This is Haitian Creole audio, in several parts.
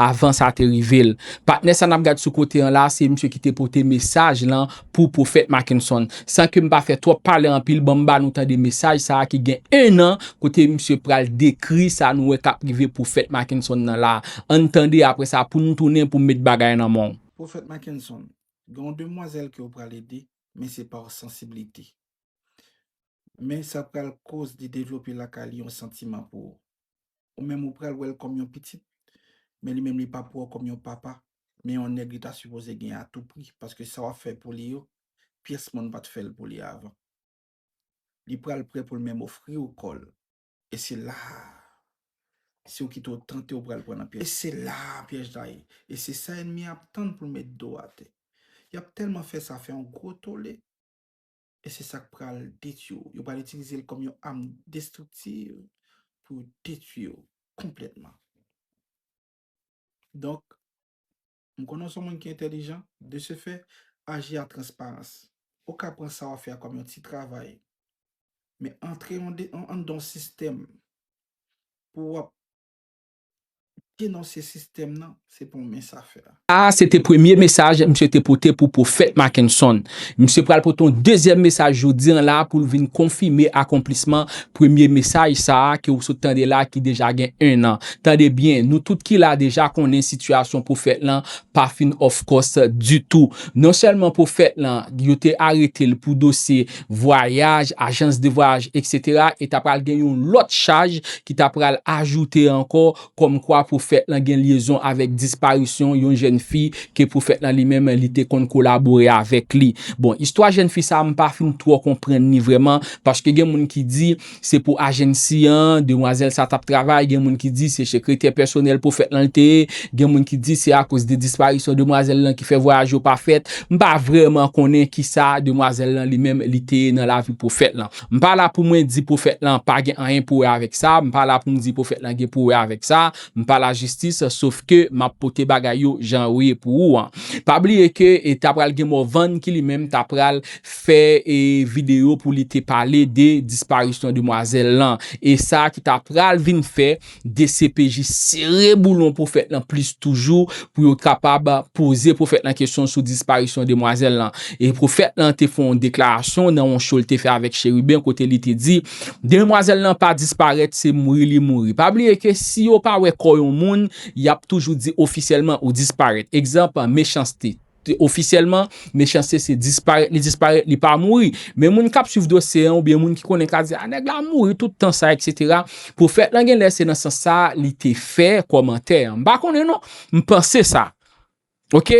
Avan sa te rive l. Patnè sa n ap gad sou kote an la a, se misye ki te pote mesaj lan pou Pwofèt Mackenson. San ke m pa fè twòp pale anpil, ban m ba nou tande mesaj sa a ki gen ennan, kote misye pral dekri sa nou wè k ap rive Pwofèt Mackenson nan la a. An n tande, apre sa, pou n tounen pou m met bagay nan men w. Pwofèt Mackenson, gen yon demwazèl ke ou pral ede, men se pa w sansiblite. Men sa pral koz li devlope lakay li yon santiman pou ou. Ou menm ou pral wèl kòm yon pitit, men li menm li pap wèw kòm yon papa, men yon nèg li ta sipoze gen a tou pri paske sa wap fè pou li yo pyès moun pat fèl pou li avan. Li pral prè poul menm ofriw kòl e se la a si ou kite ou tante ou pral pran nan pyèj. E se la a pyèj la ye e se sa ènmi an ap tann poul met do atè. Yap tèlman fè sa fè yon gwo tole. e se sa k pral detwi w. Yo pral itilize l kòm yon am destriktiv pou yo detwi w konplètman. Donk, m konnen w se yon moun ki entèlijan, de se fè, aji a transparans. Ou ka pran sa w ap fè a kòm yon ti travay, men antre anndan yon sistèm pou w ap Denonse sistèm nan, se pa yon mens afè. Sa a se te premye mesaj misye te pote pou Pwofèt Mackenson. Misye pral pote yon dezyèm mesaj jodi an la pou l vin konfime akonplisman premye mesaj sa a ke ou sot tande la ki deja gen ennan. Tande byen, nou tout ki la deja konnen sitiyasyon Pwofèt lan pa fin òfkòs ditou. Non sèlman Pwofèt lan, yo te arete l pou dosye vwayaj, ajans de vwayaj eksetera e ta pral gen yon lòt chaj ki ta pral ajoute ankò kòm kwa pwofèt lan gen lyezon avèk disparisyon yon jèn fi ke pwofèt lan li menm li te konn kolabore avèk li. Bon, istwa jèn fi sa a m pa fin twò konprann li vrèman paske gen moun ki di Se pou agency an demwazèl sa tap travay, gen moun ki di se sekretè pèsonèl pwofèt lan li te ye, gen moun ki di se akoz de disparisyon demwazèl lan ki fè vwayaj yo pa fèt, m pa vrèman konnen kisa demwazèl lan li menm li te ye nan lavi pwofèt lan. M pa la pou mwen di pwofèt lan pa gen anyen pou wè avèk sa, m pa la pou m di pwofèt lan gen pou wè avèk sa, m pa lajistis, sof ke m ap pote bagay yo jan yo ye pou ou an. Pa bliye ke ta pral gen Morvan ki li menm ta pral fè video pou li te pale de disparisyon demwazèl lan e sa ki ta pral vin fè dcpj sere boulon pwofèt lan plis toujou pou yo kapab poze pwofèt lan kesyon sou disparisyon demwazèl lan e pwofèt lan te fè yon deklarasyon nan yon show li te fè avèk Chérubin kote li te di demwazèl lan pa disparèt se mouri li mouri pa bliye ke si yo pa wè kò yon moun yap toujou di ofisyèlman ou disparèt egzanp Mechans-T. Ofisyèlman, Mechanste se disparèt li disparèt, li pa mouri. Men moun k ap swiv dosye an oubyen moun ki konnen ka di, a nèg la mouri tout tan sa eksetera. Pwofèt lan gen lè se nan sans sa a li te fè kòmantè an. M pa konnen non, m panse sa. Ok,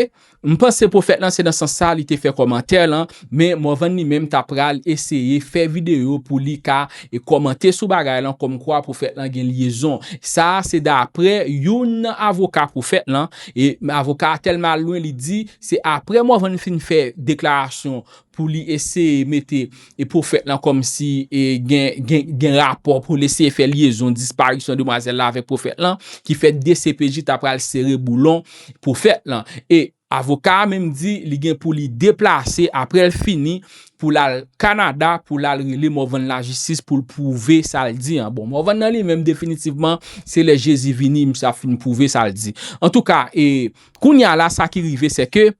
m panse pwofèt lan se nan sans sa a li te fè kòmantè lan, men Morvan li menm ta pral eseye fè videyo pou li ka kòmante sou bagay lan kòmkwa pwofèt lan gen lyezon. Sa a se daprè youn nan avoka pwofèt lan. E avoka a tèlman al lwen li di se aprè Morvan fin fè deklarasyon pou li eseye mete e pwofèt lan kòm si e gen gen rapò pou l eseye fè lyezon disparisyon demwazèl la avèk pwofèt lan ki fè dcpj ta pral sere boulon pwofèt lan e avoka a menm di li gen pou li deplase aprè l fini pou lal Canada pou lal rele Morvan lajistis poul pwouve sal di an bon Morvan nan li menm definitivman se lè Jezi vini misye ap fin pwouve sal di antouka e kounya la sa ki rive se ke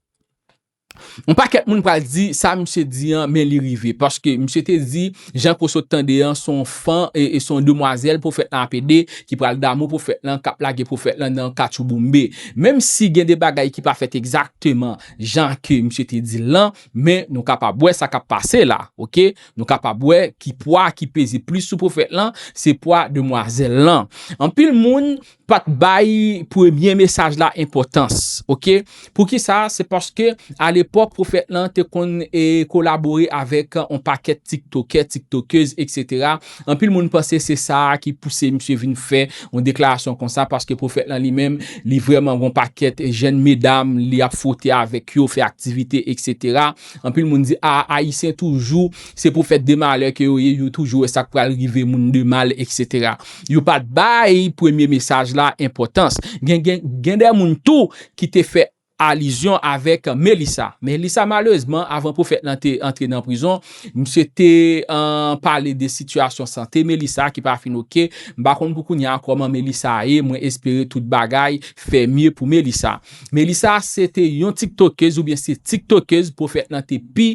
yon pakèt moun pral di sa misye di an men li rive paske misye te di jan ke w sot tande an son fan e son demwazèl pwofèt lan ap ede ki pral damou pwofèt lan kap lage pwofèt lan nan katchouboumbe menm si gen de bagay ki pa fèt egzakteman jan ke misye te dil lan. Men nou kapab wè sa kap pase la ok nou kapab wè ki pwa ki peze plis sou pwofèt lan se pwa demwazèl lan anpil moun pat bay premye mesaj la enpòtans ok poukisa se paske alepòk pwofèt lan te konn kolabore avèk on pakèt tiktokè tiktokèz etc Anpil moun panse se sa a ki pouse misye vin fè yon deklarasyon konsa paske pwofèt lan li menm li vrèman gen yon pakèt jèn medam li ap fwote avèk yo, fè aktivite eksetera. Anpil moun di a ayisyen toujou se pwofèt de malè ke yo ye, yo toujou wè sa k pral rive moun de mal eksetera. Yo pa t bay premye mesaj la enpòtans. Gen gen gen de moun tou ki te fè alizyon avèk Melissa. Melissa malerezman avan pwofèt lan te antre nan prizon, misye te pale de sitiyasyon sante Melissa ki pa fin ok, m pa konn pou kounye a kòman Melissa ye, mwen espere tout bagay fè mye pou Melissa. Melissa se te yon tiktokez oubyen se tiktokez pwofèt lan te pi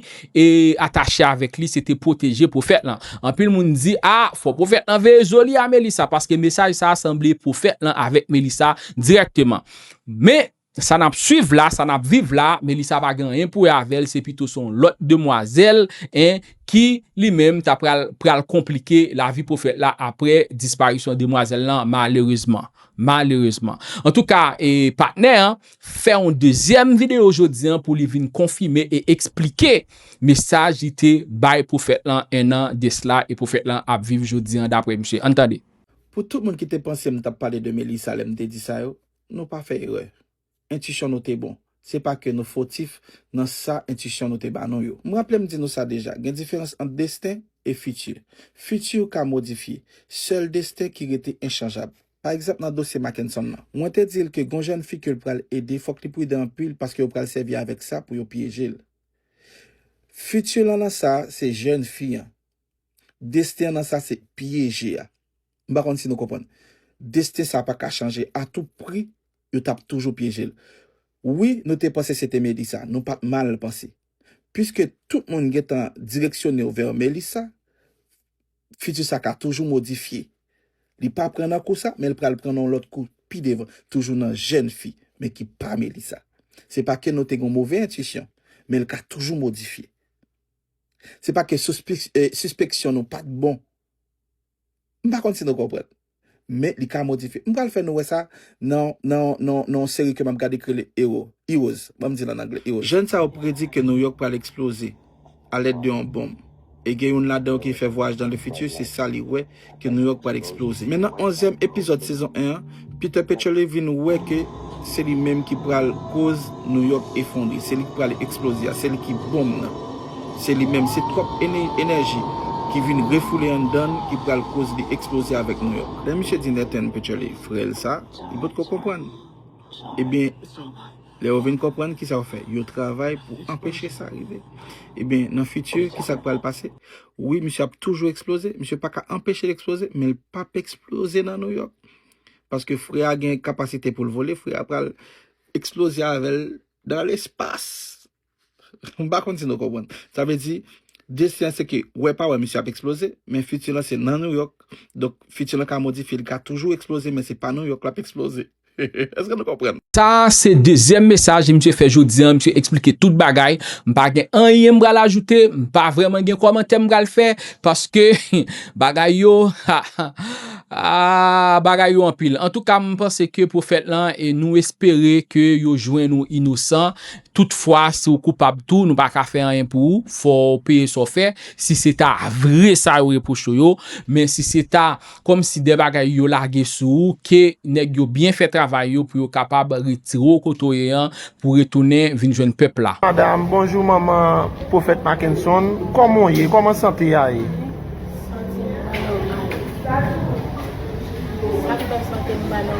atache avèk li se te pwoteje pwofèt lan. Anpil moun di a fò pwofèt lan veye zo li a Melissa paske mesaj sa sanble pwofèt lan avèk Melissa dirèkteman. Men Sa nap swiv la, sa nap viv la, Melissa pa gen anyen pou wè avèl, se pito son lòt demwazèl en ki li menm ta pral pral konplike lavi pwofèt la aprè disparisyon demwazèl lan malerezman. Malerezman. Antouka e patnè an fè yon dezyèm videyo jodi an pou li vin konfime e eksplike mesaj li te bay pwofèt lan 1 an de sla e pwofèt lan ap viv jodi an daprè misye. Ann tande. Pou tout moun ki te panse m tap pale de Melissa lè m te di sa yo, Nou pa fè erè. Entisyon nou te bon. Se pa ke nou fotif nan sa entisyon nou te ba nou yo. M raple m di nou sa deja, gen diferans ant desten e fiti. Fiti ou ka modifye. Sèl desten ki rete enchanjab. Pa egzanp nan dosye Mackenson lan. Mwen te di l ke gon jèn fi ke l pral ede fòk li pridan anpil paske yo pral sèvi avèk sa pou yo pyeje l. Fiti lan nan sa, se jèn fi an. Desten nan sa se pyeje a. M pa konn si nou konprann. Desten sa pa ka chanje. A tout pri, yo t ap toujou pyeje l. Wi, nou te panse se te Melissa. Nou pa t mal panse. Piske tout moun gen tan direksyone w vè Melissa, fiti sa ka toujou modifye. Li pa pran nan kou sa, men l pral pran nan yon lòt kou pi devan. Toujou nan jèn fi, men ki pa Melissa. Se pa ke nou te gen yon move entisyon, men l ka toujou modifye. Se pa ke sispeksyon nou pa t bon. M pa konn si nou konprann. Men li ka modifye. M pral fè nou wè sa nan yon seri ke m ap gade ki rele Ewo, Heroes, ban m di l an angle, Heroes. Jèn sa yo predi ke New York pral eksploze alèd de yon bonm. E gen youn ladan yo ki fè vwayaj dan le fiti, se sa li wè. ke New York pral eksploze. Men nan onzyèm epizòd sezon 1 an, Peter Pecherle vin wè ke se li menm ki pral koz New York efondre, se li ki pral eksploze a, se li ki bonm nan. Se li menm, se twòp enèji ki vin refoule anndan l ki pral koz li eksploze avèk New York. Lè misye di Nathan Pecherle frè l sa, li potko konprann. Ebyen, lè yo vin konprann, kisa yo fè? Yo travay pou anpeche sa rive. Ebyen, nan fiti, kisa k pral pase? Wi misye ap toujou eksploze, misye pa ka anpeche l eksploze, men l p ap eksploze nan Nouyòk. Paske frè a gen kapasite pou l vole, frè a pral eksploze avè l dan lespas. M pa konn si nou konprann. Sa vle di, desti an se ke wè pa wè misye ap eksploze, men fiti lan se nan Nouyòk, donk fiti lan ka modifye, li ka toujou eksploze men se pa Nouyòk l ap eksploze. Eske nou konprann? Sa a se dezyèm mesaj misye fè jodi an, misye eksplike tout bagay, m pa gen anyen m pral ajoute, m pa vrèman gen kòmantè m pral fè, paske bagay yo, ha ha, aah bagay yo anpil. Antouka m panse ke pwofèt lan e nou espere ke yo jwenn ou inosan, toutfwa si w koupab tou nou pa ka fè anyen pou ou, fò w peye sa w fè, si se ta vre sa yo repwoche w yo, men si se ta Kòm si de bagay yo lage sou ou ke nèg yo byen fè travay yo pou yo kapab retire w kote w ye an pou retounen vin jwenn pèp la. Madam, Bonjou manman Pwofèt Mackenson, kòman w ye? Kòman sante a ye? Madam,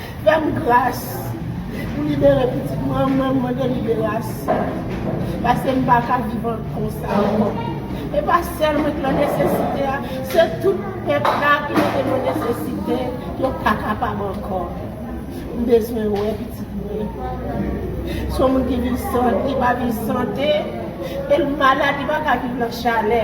Fèm gras Pou libere pitit mwen mwen mande liberasyon paske m paka viv konsa ankò e pa sèl mwen ki nan nesesite a se tout pèp la ki mete nan nesesite yo pa kapab ankò m bezwen wè pitit mwen se yon moun ki viv san li pa viv sante e l malad li paka viv nan chalè.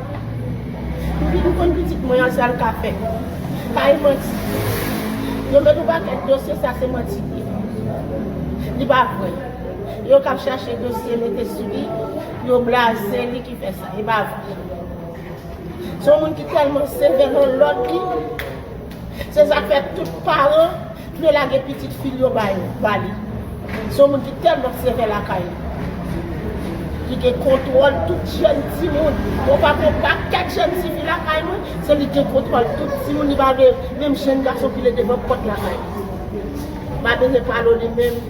Depi m konn pitit mwen an sa l ka fè. Kay manti. Yo met yon pakèt dosye sa se manti li ye. Li pa vre. Yo kap chache dosye mete sou li, yo blaze li ki fè sa. Li pa vre. Se yon moun ki tèlman sevè nan lòd li. Se sak fè tout paran vle lage pitit fil yo ba yo, ba li. Se yon moun ki tèlman sevè lakay li. Ki gen kontwòl tout jèn timoun. Mwen pa gen pakèt jèn tifi lakay mwen, se li ki gen kontwòl tout timoun li pa vle menm jèn gason file devan pòt lakay li. M pa bezwen pale w li menm.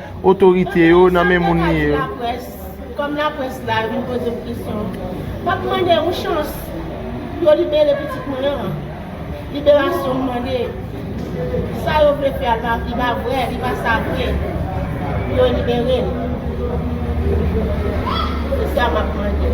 otorite yo nan men moun li yo. Kòm laprès la vin poze m kesyon, m ap mande yon chans pou yo libere pitit mwen an. Liberasyon m mande, sa yo vle fè a li pa vrè, li pa sa vre. Pou yo libere l. Se sa m ap mande.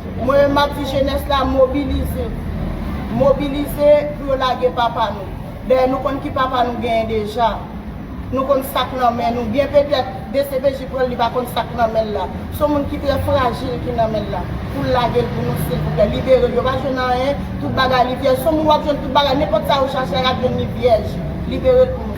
Mwen menm map di jenès la mobilize, mobilize pou yo lage papa nou. Dayè nou konn ki papa nou genyen deja. Nou konn sak nan men nou. Byen petèt dcpj pranl li pa konn sak nan menl la. Son moun ki trè frajil ki nan menl la. Poul lagel pou nou silvouplè. Liberel yo pa jwenn anyen, tout bagay li vyèj. Son moun wap jwenn tout bagay, nenpòt sa yo chache a yap jwenn li vyèj. Liberel pou nou.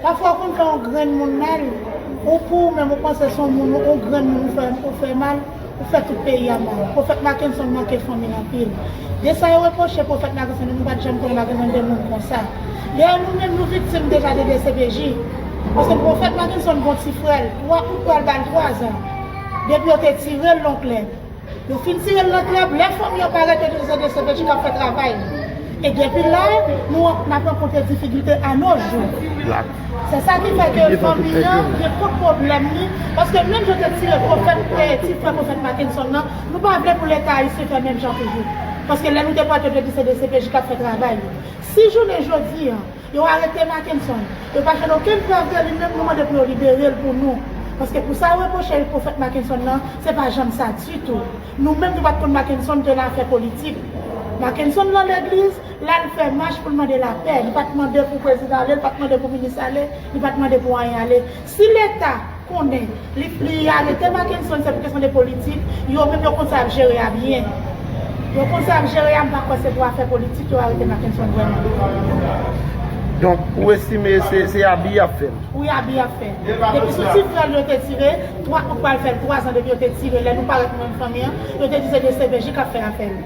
Pafwa ou konn fè yon granmoun mal, ou pou ou menm ou panse se yon moun yon granmoun ou fè mal, ou fè tout peyi a mal. Pwofèt Mackenson manke fanmi l anpil. De sa yo repwoche pwofèt Mackenson nou pa t janm konnen Mackenson te moun konsa. Dayè nou menm nou viktim deja de dcpj. Paske pwofèt Mackenson gon ti frè l 3 out pral ba l 3 zan. Depi yo te tire l lonklè. Yo fin tire l nan krèb, lè fanm yo pa rete toujou se dcpj kap fè travay li. E depi la nou nap rankontre difikilte a no jou. Se sa ki fè ke fanmi an gen pwòp pwoblèm li, paske menm jan yo te tire pwofèt ti frè pwofèt Mackenson nan, nou pa vle pou leta ayisyen fè menm jan toujou. Paske lè nou depòte l yo di se dcpj kap fè travay li. Si jounen jodi an. Yo arete Mackenson. Yo pa jwenn okenn prèv de li menm nou mande pou yo libere l pou nou. Paske pou sa yo repwoche Eric Prophète Mackenson nan se pa janm sa ditou. Nou menm nou pat konn Mackenson te nan afè politik. Mackenson lan legliz, lal fè mach pou l mande lapè. Li pat mande pou prezidan ale, li pat mande pou minis ale, li pat mande pou anyen ale. Si leta konnen li li arete makenson se pou kesyon de politik yo menm yo konn sa yap jere a byen yo konn sa yap jere a m pa kwè se pou afè politik yo arete makenson vrèman. Donk ou estime se abi yap fè l? Wi abi yap fè depi sou ti frè l yo te tire 3 ou pral fè l 3 zan depi yo te tire lè nou parèt nou menm fanmi an yo te di se dcpj kap fè afè l.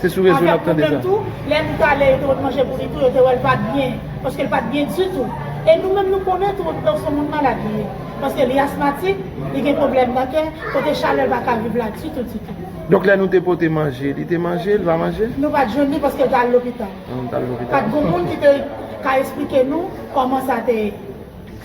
Se sou rezo nap tande sa. Lè li talè yo te wèl manje pouli tou yo te wèl pat byen paske li pat byen ditou e nou menm nou konnen tou okipe w son moun malad li ye paske li asmatik li gen pwoblèm nan kè kote chalè l paka viv la ditou ditou. Donk lè nou te pote manje li te manje li pa manje? Nou pat jwenn li paske l tal lopital. Pat gon moun ki te ka esplike nou kòman sa te ye.